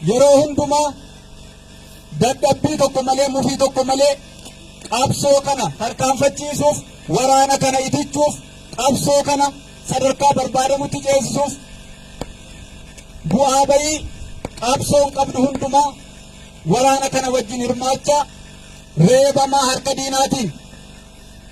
yeroo hundumaa dadhabbii tokko malee mufii tokko malee qabsoo kana tarkaanfachiisuuf waraana kana itichuuf qabsoo kana sadarkaa barbaadamutti ceesisuuf bu'aa ba'ii qabsoon qabdu hundumaa waraana kana wajjin hirmaachaa reebamaa harka diinaatiin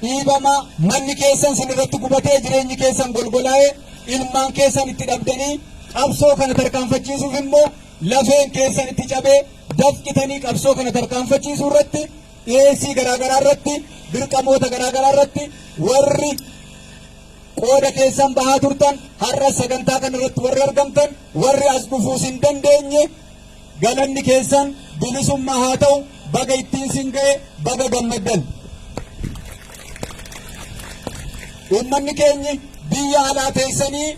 dhiibamaa, manni keessan sin irratti gubatee jireenyi keessan golgolaa'ee ilmaan keessan itti dhabdanii qabsoo kana tarkaanfachiisuuf immoo lafeen keessan itti cabee dafqitanii qabsoo kana tarkaanfachiisuu irratti dhiyeessii garaagaraa irratti dirqamoota garaagaraa irratti warri qooda keessan bahaa turtan har'a sagantaa kana irratti warri argamtan warri as dhufuus hin dandeenye Galanni keessan bilisummaa haa ta'u baga ittiin sin ga'e baga gammaddan. Uummanni keenyi biyya alaa teessanii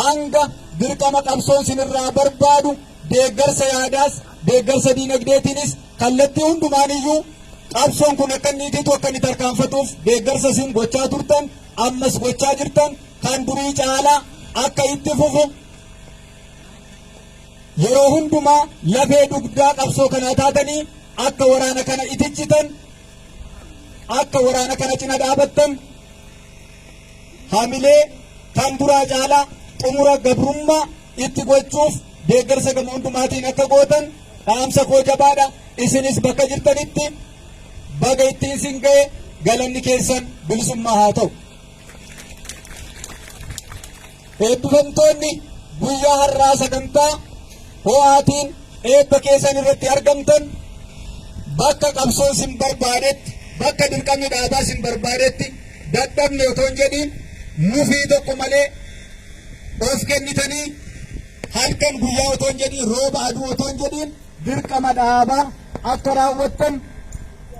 hanga dirqama qabsoon sinirraa barbaadu deeggarsa yaadaas deeggarsa diinagdeetiinis kallattii hundumaaniyyuu qabsoon kun akka inni itiitu akka inni tarkaanfatuuf deeggarsa isin gochaa turtan ammas gochaa jirtan kan durii caalaa akka itti fufu Yeroo hundumaa lafee dugdaa qabsoo kanaa taatanii akka waraana kana itichitan akka waraana kana cina dhaabattan hamilee kan duraa caalaa xumura gabrummaa itti gochuuf deeggarsa gama hundumaatiin akka gootan dhaamsa koo jabaadha isinis bakka jirtanitti baga ittiin sin ga'e galanni keessan bilisummaa haa ta'u. Eebbifamtoonni guyyaa har'aa sagantaa ho'aatiin eebba keessan irratti argamtan bakka qabsoon sin barbaadetti bakka dirqamni dhaabaa sin barbaadetti dadhabne otoo hin jedhiin nufii tokko malee of kennitanii halkan guyyaa otoo hin jedhiin rooba aduu otoo hin jedhiin dirqama dhaabaa akka raawwattan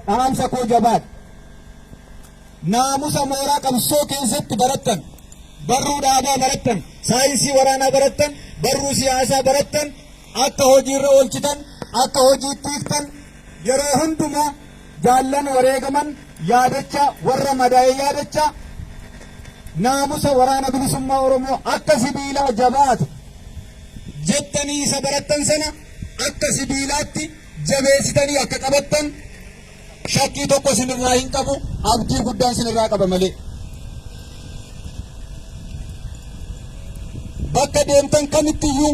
dhaamsa koo jabaadha. naamusa mooraa qabsoo keessatti barattan, barruu dhaabaa barattan, saayinsii waraanaa barattan, barruu siyaasaa barattan akka hojiirra oolchitan, akka hojiitti hiiktan yeroo hundumaa jaallan wareegaman yaadachaa warra madaa'e yaadachaa naamusa waraana bilisummaa Oromoo akka sibiilaa jabaatu jettanii isa barattan sana akka sibiilaatti jabeessitanii akka qabattan Shakkii tokko isinirraa hin qabu, abdii guddaan isinirraa qaba malee. Bakka deemtan kamittiyyuu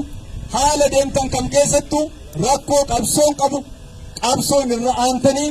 haala deemtan kam keessattuu rakkoo qabsoon qabu qabsoon irra aantanii